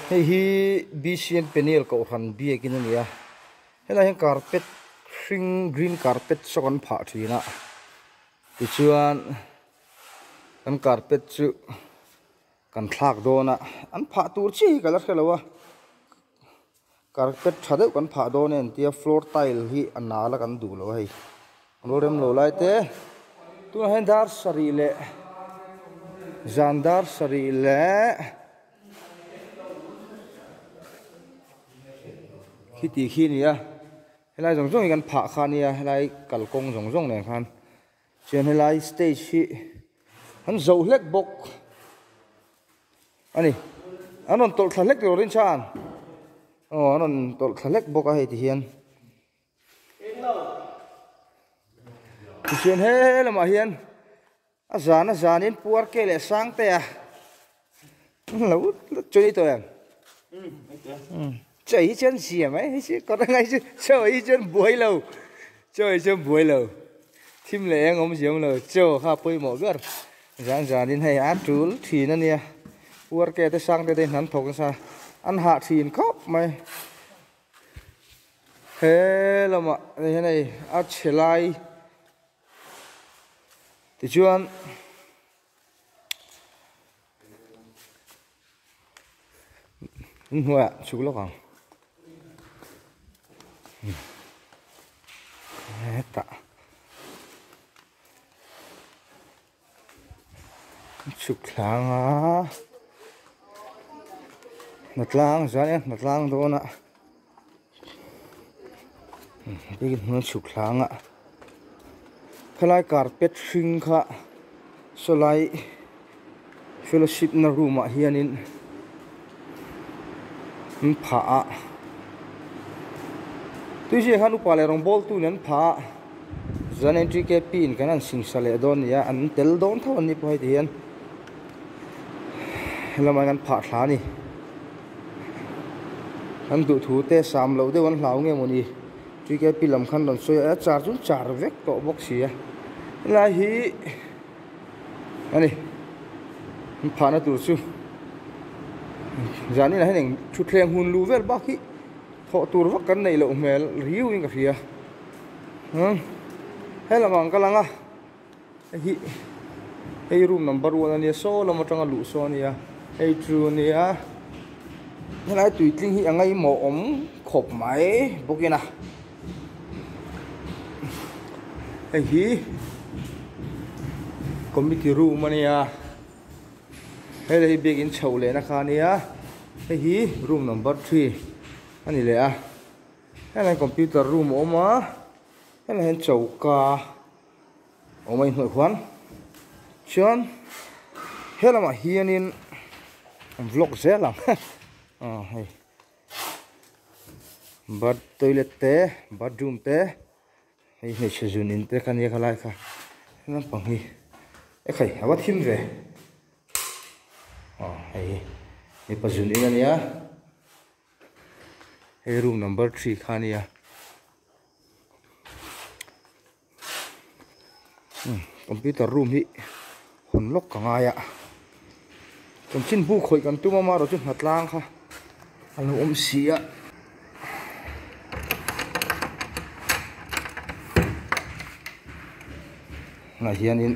Hei hi BCN Peneal Kohhran biakin a ni a, helai hian carpet hring green carpet saw kan phah thin a, tichuan kan carpet chu kan thlak dawn a, an phah tur chiah hi ka la hre lo a. Carpet tha deuh kan phah dawn e an tia floor tile hi a nal a kan duh lo a hei kan lo rem lo lai te tunah hian dar sarih leh zan dar sarih leh khi tih khi a ni a helai zawng zawng hi kan phah khan nia helai kalkawng zawng zawng nen khan. Chuan helai stage hi an zauh hlek bawk a ni. An rawn tawlh thla hlek lo rin chuan aw an rawn tawlh thla hlek bawk a hei ti hian. Tichuan he lamah hian a zana zanin Puar K leh Sangtea. Lo chawih tawh em? Chawih hi chuan zia mai hi chu kawt angai chu chawih hi chuan buai lo chawih hi chuan buai lo thim leh eng awm zi awm lo chaw kha pawimawh ber zan zan in hei a tul thin a nia uar ke te sang te te inham thawk nasa an hah thin khawp mai he lamah ni hian hei a chhe lai tichuan hnuaiah chhuh lawk ang hetah chhuk thlang a hna tlang zan em hna tlang dawn a. chhuklangah khelai carpet hring kha saw lai fellowship na room ah hianin an phah a tui zai khan upa leh rawngbawl tun an phah a zan entry gate pi in kan rawn chhing sa leh dawn a nia an tel dawn tho an ni pawh heti hian helamai an phah thla a ni. An duh thu te sam loh deuh an hlau nge maw ni? Tgp lam khan rawn sawi a, a char chu char vek tawh bawk si a. Helai hi a ni an phahna tur chu zan inah hian eng thutthleng hun luh vel bak hi thawh tur vak kan neih loh hmel riau in ka hria. Heng, he lamah ang ka lang a. Hei hi hei room number one ania saw lam atanga luh saw ania hei chu nia helai tui tling hi a ngaih mawh awm khawp mai bawk in a hei hi committee room ania hei lei biak in chho leh na kha nia hei hi room number three a ni leh a helahin computer room a awm a helahin choka-- Awmawii hnuaih khuan chuan he lamah hianin vlog zel ang he aw hei bath toilet te bathroom te hei hmeichhe zun in te ka nia ka lai kha he lampang hi ekhei a va thim ve aw hei hi mipa zun in a nia he room number three kha nia. computer room hi hawn lawk ka ngai a chaw chin bu khawih kan tum a mah erawh chu hna tlang kha a lo awm si a. tunah hianin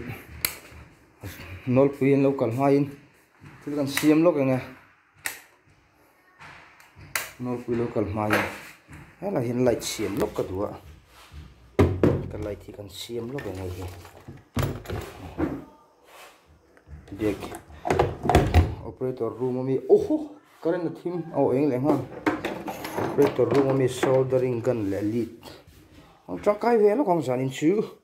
nawlpui an lo kal nghaiin thil kan siam lawk eng nge. Nawlpui lo kal hma in helai hian light siam lawk ka duh a ka light hi kan siam lawk eng nge hi biag operator room ami oho current a thim aw eng leh nghal operator room ami soldering gun leh lead tangkai ve lawk ang zan in chu.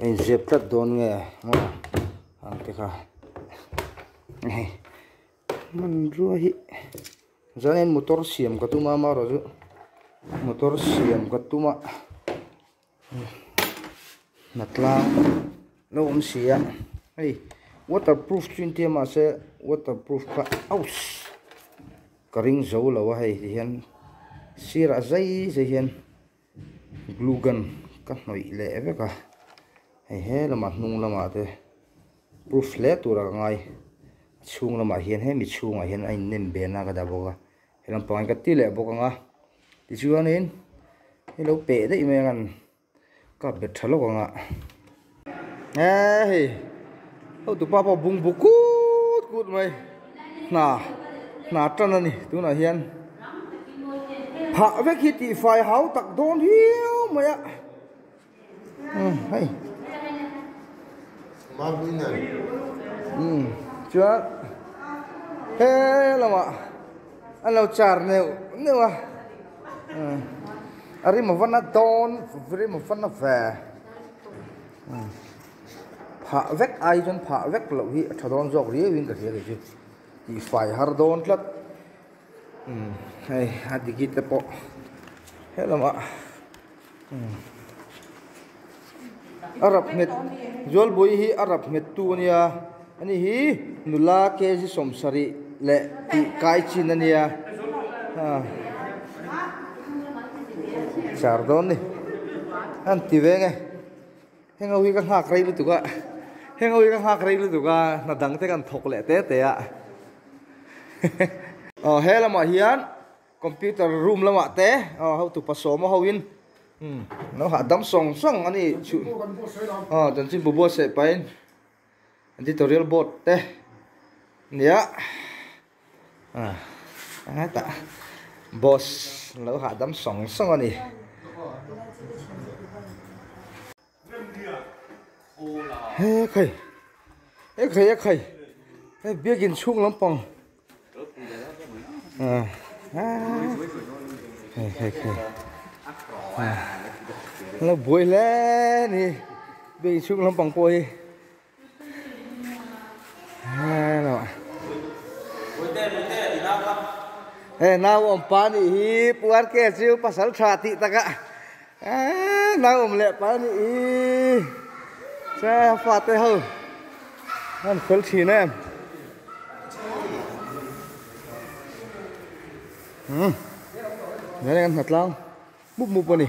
Hei ziak tlat dawn nge maw ang te kha hei hmanrua hi zan in motor siam ka tum a ama erawh chu motor siam ka tum a hna tlang lo awm si a hei water proof chu intia mah se water proof kha aus ka ring zo lo a hei tihian sirah zai zai hian. Glue gun ka hnawih leh vek a, hei he lamah hnung lamah te proof hle tur aka ngai, a chhung lamah hian he mi chhungah hian a innem be na ka dah bawk a, he lam pangin ka ti leh bawk ang a, tichuanin hei lo peh daih mai ang an kap bet tha lawk ang a. Eee hei hotu pa pawh bung bu kut kut mai hna hna tan a ni tunah hian phah vek hi tifai hau tak dawn hiu mai a umm hei umm chuan he lamah an lo char neuh neuh a umm a rim a van a dawn rim a van a ve. Phah vek ai chuan phah vek loh hi a tha dawn zawk riau in ka hria leh chu tih fai har dawn tlat hei a digi te pawh helamah a rap nghet Zawlbui hi a rap nghet tu a nia. A ni hi nula kezi sawm sarih leh tih kai chin a nia. Char dawn ni an ti ve nge. Heng ho hi ka nghak rei lutuk a, heng ho hi ka nghak rei lutuk a, hna dang te kan thawk leh te te a. Aw he lamah hian computer room lamah te aw ho tupa sawm a ho in umm nauha dam sawng sawng a ni chu aw chanchinbu buatsaih pahin. Editorial board te nia ah enge tah boss lo hahdam sawng sawng a ni. He khai he khai he khai he biakin chhung lampang. la buai hle a ni bag in chhung lampang pawh hi hello he nau awm pa nih hi pu rk chu pasal tha tih takah. Eeh nang awm leh pai ani i che fate ho an fel thin em umm nge kan hna tlang mup mup ani.